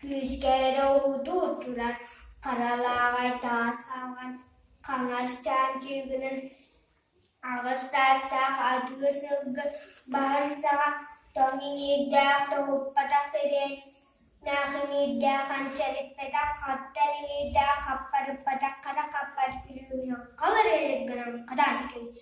Күүскэ эрэ урутуу турар харалааҕай таас хаҥан хаҥас чаанчыгынан аҕыс саастаах атыы сылгы баһын саҕа тоҥ иҥиирдээх тоһуппатах сириэннээх иҥиирдээх ханчарыппатах хаттар иҥиирдээх хаппарыппатах хара хаппар күлүгүнэн халыр өлүк гынан хатаан кэбисэр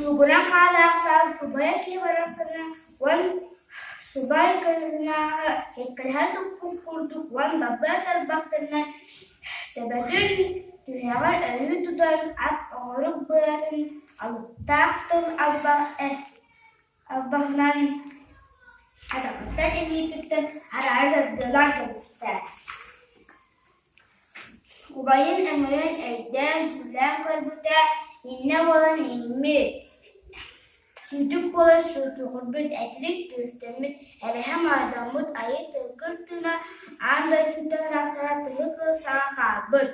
Мугура хаалаахтаах убайа киһи барахсаны уон субай кырыынааҕы эккирэһэ туппут курдук уон бабыа тарбахтарына төбөтүн, түһэҕэр өрүү тутан ат оҕурук быатын алыптаах тыл албаһынан атаҕыттан илиититтэн араары саргылаан кэбистэ Убайын өҥүн өйдөөн, дьүүллээн көрбүтэ иннэ буолан иҥмит, сүтүк буолан сутуурбут, итирик түстэммит, эрэһэ-мордоммут айыы тылгыр тыына аан дойдуттан арахсара тыгы кыл саҥа хаалбыт.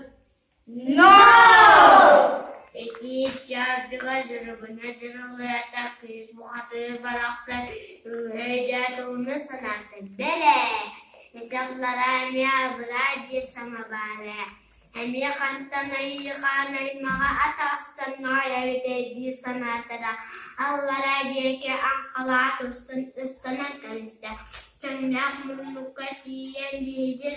Итиит дьаардыга дьоругунан дьырылыйата кыыс бухатыыр барахсан үҥэ-өйдөөтөҕүнэ санаата бэлэ Ыталлара эмиэ абыраа дии санабаар ээ, эмиэ хантан айыыхаан аймаҕа атаҕастанар эбитэй дии санаатара, аллара диэки аҥхалаах устун ыстанан кэбистэ, чэҥнээх муннукка тиийэн дьиһидир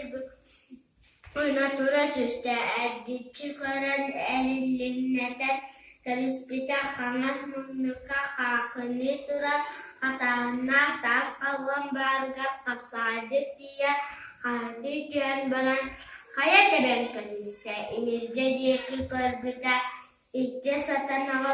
Хойно тура түстэ, эргиччи көрөн эрилиннэтэн кэбиспитэ, хаҥас муннукка хаахыныы турар хатааһыннаах таас халлаан баарыгар хапсаҕайдык тиийэ хаһытыы түһэн баран «Хайа тэбэн кэбистэ, иһирдьэ диэки көрбүтэ, илдьэ сатанаҕа